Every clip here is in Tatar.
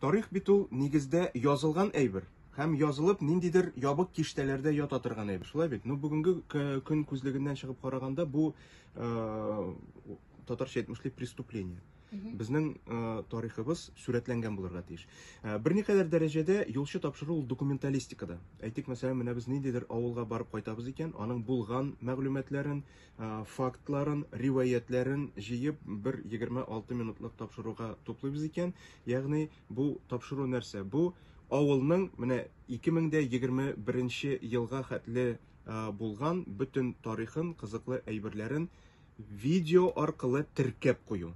Тарих бит ул нигездә язылган әйбер һәм язылып ниндидер ябык киштәләрдә ята торган әйбер. Шулай бит. Ну бүгенге көн күзлегеннән чыгып караганда бу э, татарча әйтмешли преступление. Безнең э, тарихыбыз сүрәтләнгән булырга тиеш. Э, берникадәр дәрәҗәдә юлчы тапшыру ул документалистикада. Әйтик, мәсәлән, менә без ниндидер авылга барып кайтабыз икән, аның булган мәгълүматларын, фактларын, риваятьләрен җыеп бер 26 минутлык тапшыруга туплыйбыз икән. Ягъни бу тапшыру нәрсә? Бу авылның менә 2021 елга хәтле булган бөтен тарихын, кызыклы әйберләрен видео аркылы теркәп кую.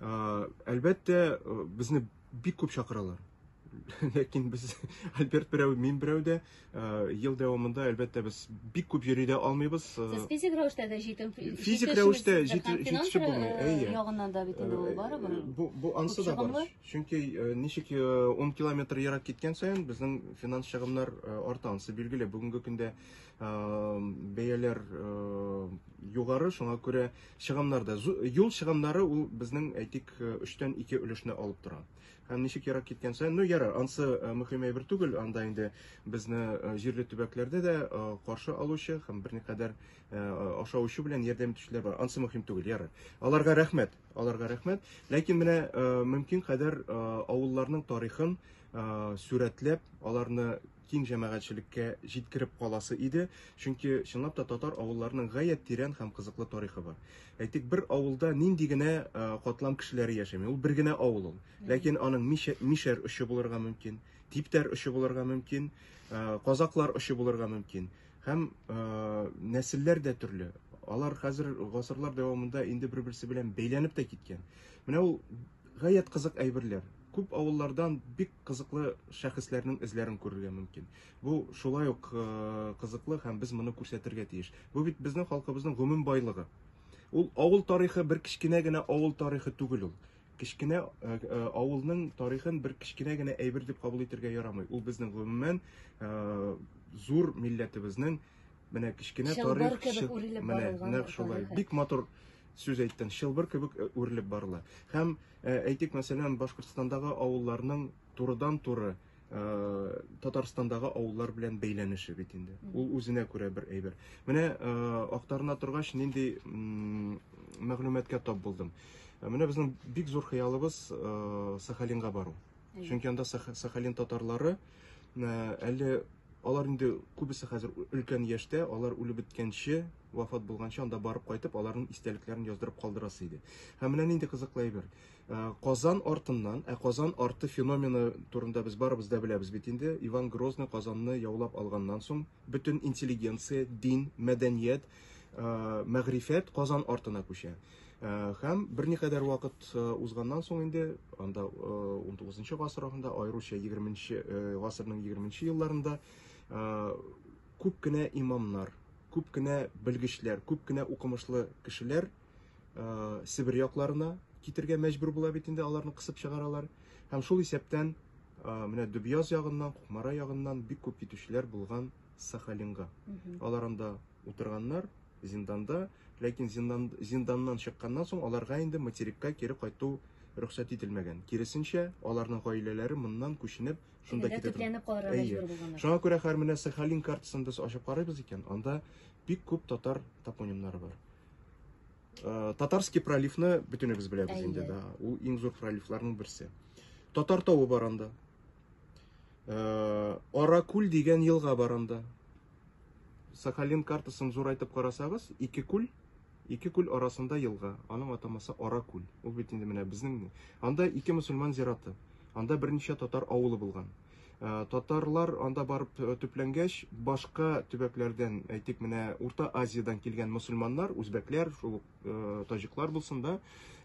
Әлбәттә, безне бик күп чакыралар. Ләкин без Альберт берәү, мин берәү дә ел дәвамында әлбәттә без бик күп йөри дә алмыйбыз. Сез физик рәвештә дә җитем физик рәвештә җитешеп булмый. Әйе. Ягыннан да бит инде ул барыбер. Бу бу ансы да бар. Чөнки ничек 10 километр ерак киткән саен безнең финанс чыгымнар арта. Ансы билгеле. Бүгенге көндә бәяләр югары, шуңа күрә чыгымнарда юл чыгымнары ул безнең әйтик э, өчтән ике өлешне алып тора һәм ничек ерак киткән саен ну ярар ансы э, мөһим әйбер түгел анда инде безне э, җирле төбәкләрдә дә каршы алучы һәм берникадәр аша очу белән ярдәм итүчеләр бар ансы мөһим түгел ярар аларга рәхмәт аларга рәхмәт ләкин менә мөмкин кадәр авылларның тарихын сурәтләп аларны киң җәмәгатьчелеккә җиткереп каласы иде, чөнки чынлап та татар авылларының гаять тирән һәм кызыклы тарихы бар. Әйтик, бер авылда нинди генә катлам кешеләре яшәми, ул бер генә авыл ул. Ләкин аның мишәр очы булырга мөмкин, типтәр очы булырга мөмкин, казаклар очы булырга мөмкин. Һәм нәселләр дә төрле. Алар хәзер гасырлар дәвамында инде бер-берсе белән бәйләнеп тә киткән. Менә ул гаять кызык әйберләр. Күп авыллардан бик кызыклы шәхесләрнең эзләрен күрергә мөмкин. Бу шулай ук э, кызыклы һәм без моны күрсәтергә тиеш. Бу бит безнең халкыбызның гомум байлыгы. Ул авыл тарихы бер кечкенә генә авыл тарихы түгел ул. Кечкенә э, э, авылның тарихын бер кечкенә генә әйбер дип кабул итергә ярамый. Ул безнең гомумән э, зур милләтебезнең менә кечкенә тарих кебек үрелеп барылган. Бик матур сүз әйттең. Шылбыр кебек үрелеп барыла. Һәм э, Ә, әйтик, мәсәлән, Башкортстандагы авылларның турыдан-туры Э, Татарстандагы авыллар белән бәйләнеше бит инде. Ул үзенә күрә бер әйбер. Менә э, актарына торгач, нинди мәгълүматка тап булдым. Э, менә безнең бик зур хыялыбыз Сахалинга бару. Чөнки анда Сахалин татарлары әле алар инде күбесе хәзер өлкән яшьтә, алар үлеп беткәнче, вафат булганчы анда барып кайтып, аларның истәлекләрен яздырып калдырасы иде. Һәм менә нинди кызыклы әйбер. Казан артыннан, ә Казан арты феномены турында без барыбыз да беләбез бит инде. Иван Грозный Казанны яулап алганнан соң, бөтен интеллигенция, дин, мәдәният, мәгърифәт Казан артына күчә. Һәм берникадәр вакыт узганнан соң инде, анда 19 гасыр ахырында, аеруча 20 гасырның 20 елларында күп кенә имамнар, күп кенә белгечләр, күп кенә укымышлы кешеләр Себер якларына китергә мәҗбүр була бит инде, аларны кысып чыгаралар. Һәм шул исәптән менә Дөбьяз ягыннан, Кукмара ягыннан бик күп китүчеләр булган Сахалинга. Алар анда утырганнар, зинданда, ләкин зиндан, зинданнан чыкканнан соң аларга инде материкка кире кайту рөхсәт ителмәгән. Киресенчә, аларның гаиләләре моннан күченеп, шунда Әйдә, китеп. төпләнеп калырга Әйе. мәҗбүр булганнар. Шуңа күрә хәр менә Сахалин картасын без ачып карыйбыз икән, анда бик күп татар топонимнары бар. Э, Татарский проливны бөтенебез беләбез Әйе. инде, да, ул иң зур проливларның берсе. Татар тавы бар анда. Э, Аракүл дигән елга бар анда. Сахалин картасын зурайтып карасагыз, ике күл, ике күл арасында елга. Аның атамасы Аракүл. Ул бит инде менә безнең. Анда ике мусульман зираты. Анда берничә татар авылы булган. Э, татарлар анда барып э, төпләнгәч, башка төбәкләрдән, әйтик, менә Урта Азиядән килгән мусульманнар, үзбәкләр, шул э, таҗиклар булсын да,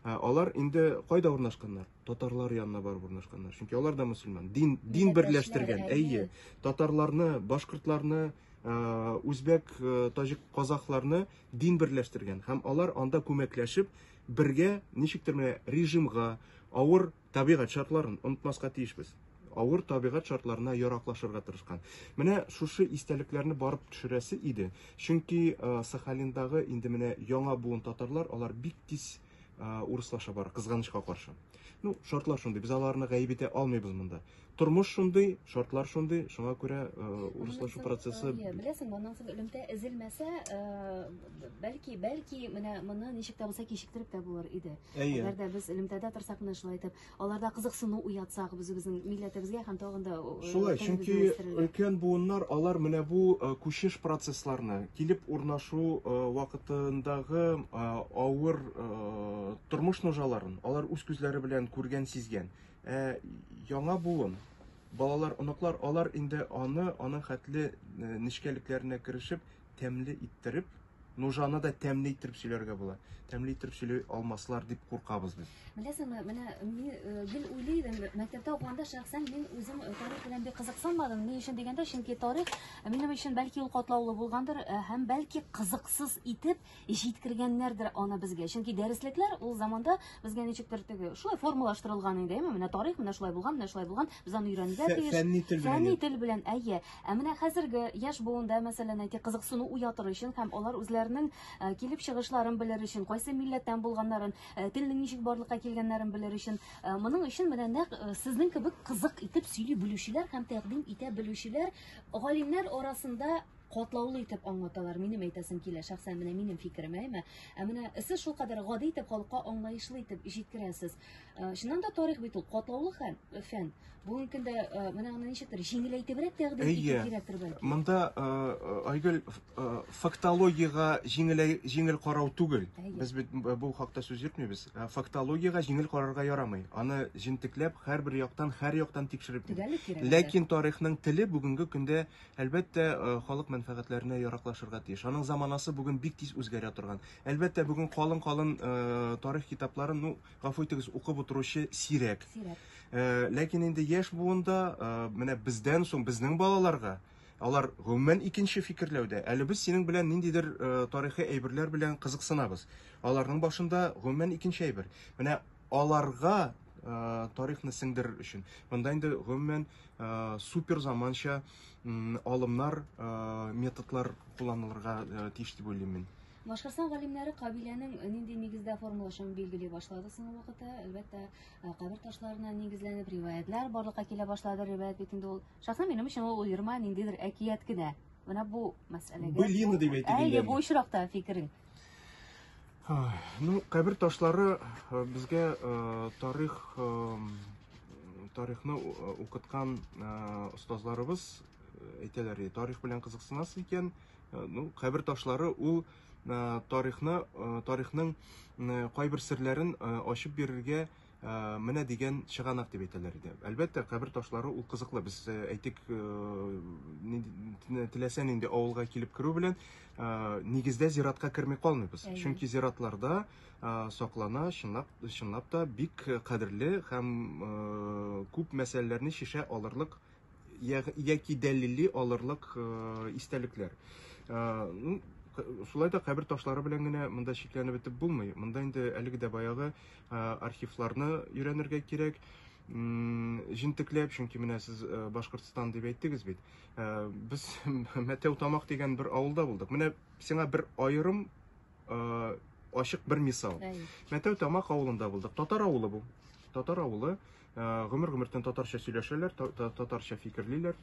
алар инде кайда урнашканнар? татарлар янына барып урнашканнар. Чөнки алар да мусульман. Дин дин берләштергән. Әйе, татарларны, башкортларны, үзбәк, таҗик, казахларны дин берләштергән һәм алар анда күмәкләшеп бергә ничектер менә режимга, авыр табигать шартларын онытмаска тиешбез. Авыр табигать шартларына яраклашырга тырышкан. Менә шушы истәлекләрне барып төшерәсе иде. Чөнки Сахалиндагы инде менә яңа буын татарлар, алар бик тиз урыслаша бара, кызганычка каршы. Ну, шартлар шундый, без аларны гаеп итә алмыйбыз монда. Тормыш шундый, шартлар шундый, шуңа күрә урыслашу процессы... Беләсең, моннан соң элемтә эзелмәсә, бәлки, бәлки, менә моны ничек тә булса кичектереп тә булыр иде. Әгәр дә без элемтәдә торсак, менә шулай итеп, Аларда кызыксыну уятсак, без үзебезнең милләтебезгә һәм тагын да Шулай, чөнки өлкән буыннар алар менә бу күчеш процессларны, килеп урнашу вакытындагы авыр тормыш нужаларын алар үз күзләре белән күргән, сизгән. Ә яңа буын балалар, оныклар алар инде аны, аның хәтле нечкәлекләренә керешеп, тәмле иттереп, нужаны да тәмле иттереп сөйләргә була. Тәмле иттереп сөйли алмаслар дип куркабыз без. Беләсеңме, менә мин э, гел уйлый идем, мәктәптә укыганда шәхсән мин үзем э, тарих белән бик кызыксынмадым. Ни өчен дигәндә, чөнки тарих э, минем өчен бәлки ул катлаулы булгандыр, һәм бәлки кызыксыз итеп җиткергәннәрдер аны безгә. Чөнки дәреслекләр ул заманда безгә ничектер теге шулай формалаштырылган инде, әйме, менә тарих менә шулай булган, менә шулай булган, без аны өйрәнергә тиеш. Фәнни тел белән. Фәнни тел белән, әйе. Ә менә хәзерге яшь буында, мәсәлән, әйтик, кызыксыну уятыр өчен һәм алар үзләренең э, килеп чыгышларын белер өчен, кайсы милләттән булганнарын, э, телнең ничек барлыкка килгәннәрен белер өчен, э, моның өчен менә нәкъ сезнең кебек кызык итеп сөйли белүчеләр һәм тәкъдим итә белүчеләр галимнәр арасында катлаулы итеп аңлаталар. Минем әйтәсем килә, шәхсән менә минем фикерем, әйме. Ә менә сез шул кадәр гади итеп халыкка аңлаешлы итеп җиткерәсез. Э, чыннан да тарих бит ул катлаулы хәл, э, фән. Бүгенге көндә э, менә аны ничектер җиңеләйтебрәк тәкъдим итү кирәктер бәлки. Монда Айгөл фактологиягә җиңел җиңел карау түгел. Без бит бу хакта сүз йөртмибез. Фактологиягә җиңел карарга ярамый. Аны җентекләп һәрбер яктан, һәр яктан тикшереп. Ләкин тарихның теле бүгенге көндә Әлбәттә, халык мәнфәгатьләренә яраклашырга тиеш. Аның заманасы бүген бик тиз үзгәрә торган. Әлбәттә, бүген калын-калын тарих китапларын, ну, гафу итегез, укып утыручы сирәк. Сирәк. Ләкин инде яшь буында, менә бездән соң, безнең балаларга, алар гомумән икенче фикерләүдә. Әле без синең белән ниндидер тарихи әйберләр белән кызыксынабыз. Аларның башында гомумән икенче әйбер. Менә аларга ә, тарихны сеңдерер өчен. Монда инде гомумән ә, супер заманча алымнар, ә, методлар кулланылырга ә, тиеш дип уйлыйм мин. Башкортстан галимнәре кабиләнең нинди нигездә формалашуын билгели башлады соңгы вакытта. Әлбәттә, кабер ташларына нигезләнеп риваятлар барлыкка килә башлады. Риваят бит инде ул шәхсән минем өчен ул уерма ниндидер әкият кенә. Менә бу мәсьәләгә. Былина дип әйтелгән. Әйе, бу очракта фикерең. Ну, кабер ташлары э, безгә э, тарих э, тарихны укыткан остазларыбыз әйтәләр, тарих белән кызыксынасыз икән, ну, кабер ташлары ул тарихны, тарихның кайбер серләрен ачып бирергә Э, менә дигән чыганак дип әйтәләр иде. Әлбәттә, кабер ташлары ул кызыклы. Без э, әйтик, э, теләсә нинди авылга килеп керү белән нигездә зиратка керми калмыйбыз. Чөнки зиратларда саклана чынлап, чынлап та бик кадерле һәм күп мәсьәләләрне шешә алырлык яки дәлилли алырлык истәлекләр. Ну, шулай да кабер ташлары белән генә монда чикләнеп бетеп булмый. Монда инде әлеге дә баягы архивларны өйрәнергә кирәк җентекләп, чөнки менә сез Башкортстан дип әйттегез бит. Без Мәтәү Тамак дигән бер авылда булдык. Менә сиңа бер аерым ачык бер мисал. Мәтәү Тамак авылында булдык. Татар авылы бу. Татар авылы. Гомер гомертен татарча сөйләшәләр, татарча фикерлиләр,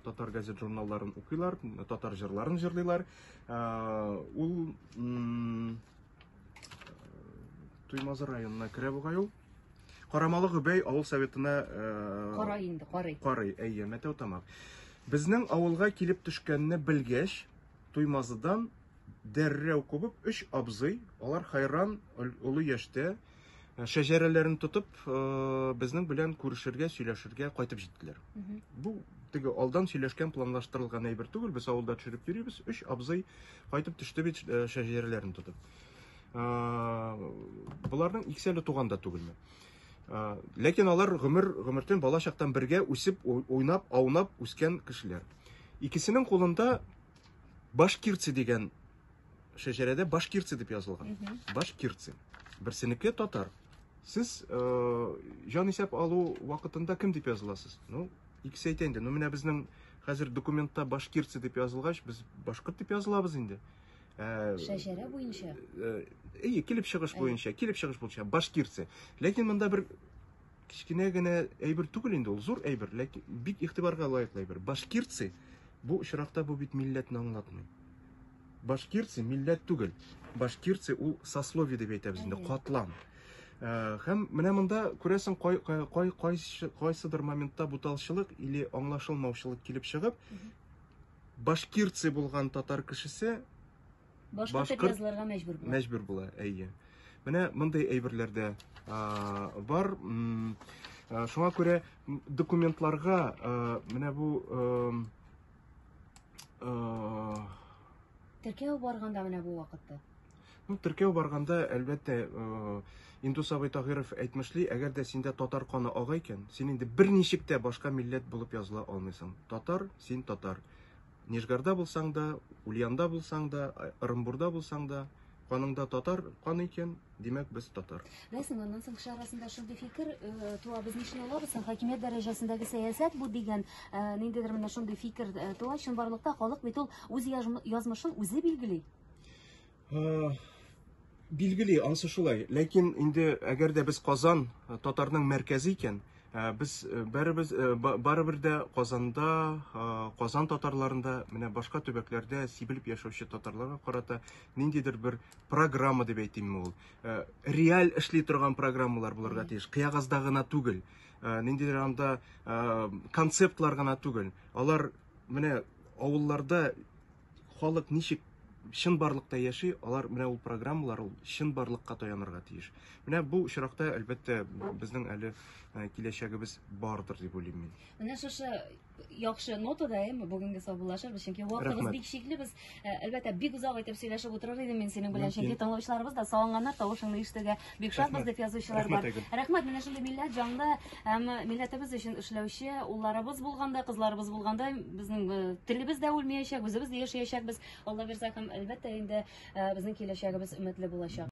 татар газет журналларын укыйлар, татар җырларын җырлыйлар. Ул Туймазы районына керә бугай ул. Карамалы Гөбәй авыл советына Кара инде, карый. Карый, әйе, Мәтәү Тамак. Безнең авылга килеп төшкәнне белгәч, Туймазыдан дәррәү кубып, өч абзый, алар хайран, олы яшьтә, Э, шәҗәрәләрен тотып э, безнең белән күрешергә сөйләшергә кайтып җиттеләр бу теге алдан сөйләшкән планлаштырылган әйбер түгел без авылда төшереп йөрибез өч абзый кайтып төште бит э, шәҗәрәләрен тотып боларның икесе әле туган да түгелме ләкин алар гомер гомертен бала чактан бергә үсеп уйнап аунап үскән кешеләр икесенең кулында башкирцы дигән шәҗәрәдә башкирцы дип язылган. Башкирцы. Берсенеке татар. Сез э, җан исәп алу вакытында кем дип языласыз? Ну, икесе әйтә инде. Ну, менә безнең хәзер документта башкирцы дип язылгач, без башкорт дип язылабыз инде. Э, шәҗәрә буенча. Э, әйе, килеп чыгыш буенча, килеп чыгыш буенча башкирцы. Ләкин монда бер кечкенә генә әйбер түгел инде, ул зур әйбер, ләкин бик игътибарга лаеклы әйбер. Башкирцы бу очракта бу бит милләтне аңлатмый. Башкирцы милләт түгел. Башкирцы ул сословие дип әйтәбез инде, катлам. Э, һәм менә монда күрәсең кай, кай, кай, кай, кайсыдыр моментта буталчылык или аңлашылмаучылык килеп чыгып, башкирцы булган татар кешесе башка башкыр... язылырга мәҗбүр була. Мәҗбүр була, әйе. Менә мондый әйберләрдә бар. Шуңа күрә документларга менә бу Э, теркәү барганда менә бу вакытта ну теркәү барганда әлбәттә э, индус абый тагыйров әйтмешли әгәр дә синдә татар каны ага икән син инде берничек тә башка милләт булып языла алмыйсың татар син татар нижгарда булсаң да ульянда булсаң да ырымбурда булсаң да каныңда татар каны икән Димәк, без татар. Рәсем, аннан соң кеше арасында шундый фикер э, туа, без ни өчен алабыз, хакимият дәрәҗәсендәге сәясәт бу дигән, э, ниндидер менә шундый фикер э, туа, чынбарлыкта халык бит ул үз язмышын үзе билгели. Билгели, ансы шулай. Ләкин инде әгәр дә без Казан татарның мәркәзе икән, без бәребез барыбер дә Казанда, Казан татарларында, менә башка төбәкләрдә сибелеп яшәүче татарларга карата ниндидер бер программа дип әйтимме ул э, реаль эшли торган программалар булырга тиеш кыягазда гына түгел э, ниндидер анда э, концептлар гына түгел алар менә авылларда халык ничек чын барлыкта яши алар менә ул программалар ул чын барлыкка таянырга тиеш менә бу очракта әлбәттә безнең әле киләчәгебез бардыр дип уйлыйм мин менә шушы яхшы нотада әйеме бүгенге саубуллашырбыз чөнки вакытыбыз бик чикле без э, әлбәттә бик озак итеп сөйләшеп утырыр идем мин синең белән чөнки тыңлаучыларыбыз да салынганнар тавышыңны ишетергә бик шатбыз дип язучылар бар рәхмәт менә шундый милләт җанлы һәм милләтебез өчен эшләүче улларыбыз булганда кызларыбыз булганда безнең э, телебез дә үлмәячәк үзебез дә яшәячәкбез алла бирса һәм әлбәттә инде э, безнең киләчәгебез өметле булачак